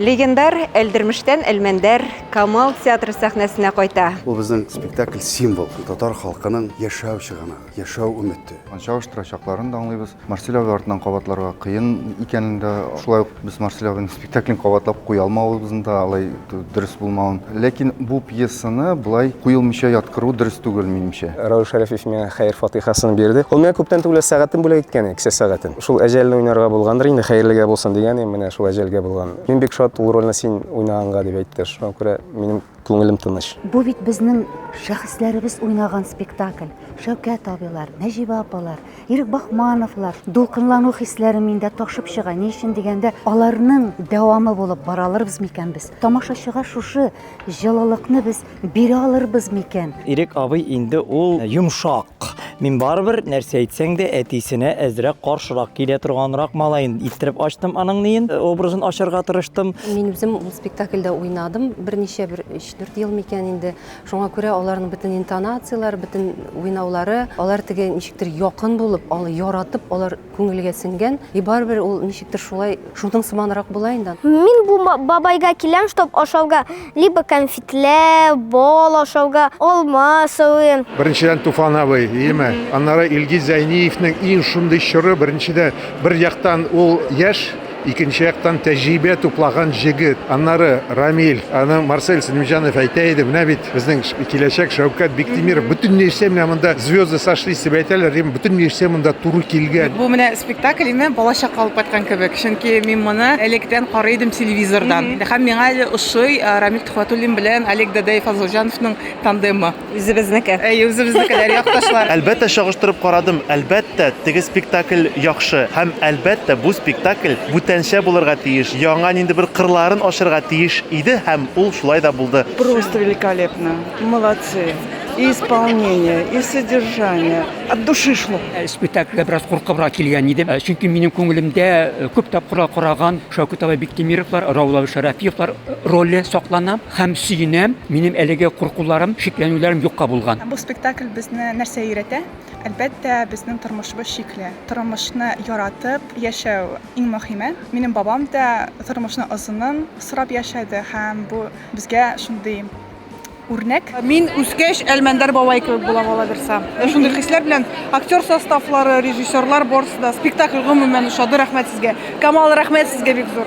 Легендар Әлдермештән Әлмәндәр Камал театры сәхнәсенә кайта. Бу безнең спектакль символ, татар халкының яшәү чыганагы, яшәү өмете. Чагыштырачакларын да аңлыйбыз. Марсель абый артыннан кабатларга кыен икәнен дә, шулай ук без Марсель абыйның спектаклен кабатлап куя алмавыбызны да, алай дөрес булмавын. Ләкин бу пьесаны болай куелмыйча яткыру дөрес түгел, минемчә. Равил Шәрәфиев миңа хәер-фатыйхасын бирде. Ул миңа күптән түгел сәгатен бүләк иткән иде, кесә сәгатен. Шул әҗәлне уйнарга булгандыр инде, хәерлегә булсын дигән идем, менә шул әҗәлгә булган. Мин бик шат ул рольне син уйнаганга, дип әйтте. Шуңа күрә минем күңелем тыныч. Бу бит безнең шәхесләребез уйнаган спектакль. Шәүкәт абыйлар, Нәҗибә апалар, Ирек Бахмановлар. Дулкынлану хисләре миндә ташып чыга. Ни өчен дигәндә, аларның дәвамы булып бара алырбыз микән без? Тамашачыга шушы җылылыкны без Бирә алырбыз микән? Ирек абый инде ул йомшак. Мин барыбер нәрсә әйтсәң дә әтисенә әзрәк каршырак килә торганрак малай иттереп ачтым аның ниен э, образын ачарга тырыштым. Мин үзем ул спектакльдә уйнадым берничә бер 3-4 ел микән инде. Шуңа күрә аларның бөтен интонацияләре, бөтен уйнаулары, алар теге ничектер якын булып, ал яратып, алар Күңелгә сеңгән, и барыбер ул ничектер шулай шудың сыманрак була инде. Мин бу бабайга киләм чтоб ашауга, либо кәнфитләр, бал ашауга, алма сорыйм. Беренчедән Туфан абый, иеме? Аннары Илгиз Зәйниевнең иң шундый чоры, беренчедә бер яктан ул яшь, Икенче яктан тәҗрибә туплаган җегет. Аннары Рамил, аны Марсель Сәлимҗанов әйтә иде, менә бит безнең киләчәк Шәүкәт Биктимиров, бөтен нәрсә менә монда звезды сошлись дип әйтәләр, дим, бөтен нәрсә монда туры килгән. Бу менә спектакль име, балачакка алып кайткан кебек, чөнки мин моны электән карый идем телевизордан. Һәм миңа әле ошый Рамил Төхвәтуллин белән Олег Дадаев-Фазылҗановның тандемы. Үзебезнеке. Әйе, үзебезнекеләр, якташлар. Әлбәттә, чагыштырып карадым. Әлбәттә, теге спектакль яхшы. Һәм, әлбәттә, бу спектакль бүтәнчә булырга тиеш, яңа нинди бер кырларын ачырга тиеш иде һәм ул шулай да булды. Просто великолепно! Молодцы! И исполнение, и содержание, от души шло! Спектакльгә бераз куркыбрак килгән идем, чөнки минем күңелемдә күп тапкырлар караган Шәүкәт абый Биктимировлар, Раул абый Шәрәфиевлар роле саклана. Һәм сөенәм, минем әлеге куркуларым, шикләнүләрем юкка булган. Бу спектакль безне нәрсә өйрәтә? Әлбәттә, безнең тормышыбыз чикле. Тормышны яратып яшәү иң мөһиме. Минем бабам да тормышның озынын сорап яшәде һәм бу безгә шундый үрнәк. Мин үскәч, Әлмәндәр бабай кебек булам, алабирса. Менә шундый хисләр белән актер составлары, режиссерлар барысы да, спектакль гомумән ошады, рәхмәт сезгә. Камал, рәхмәт сезгә бик зур.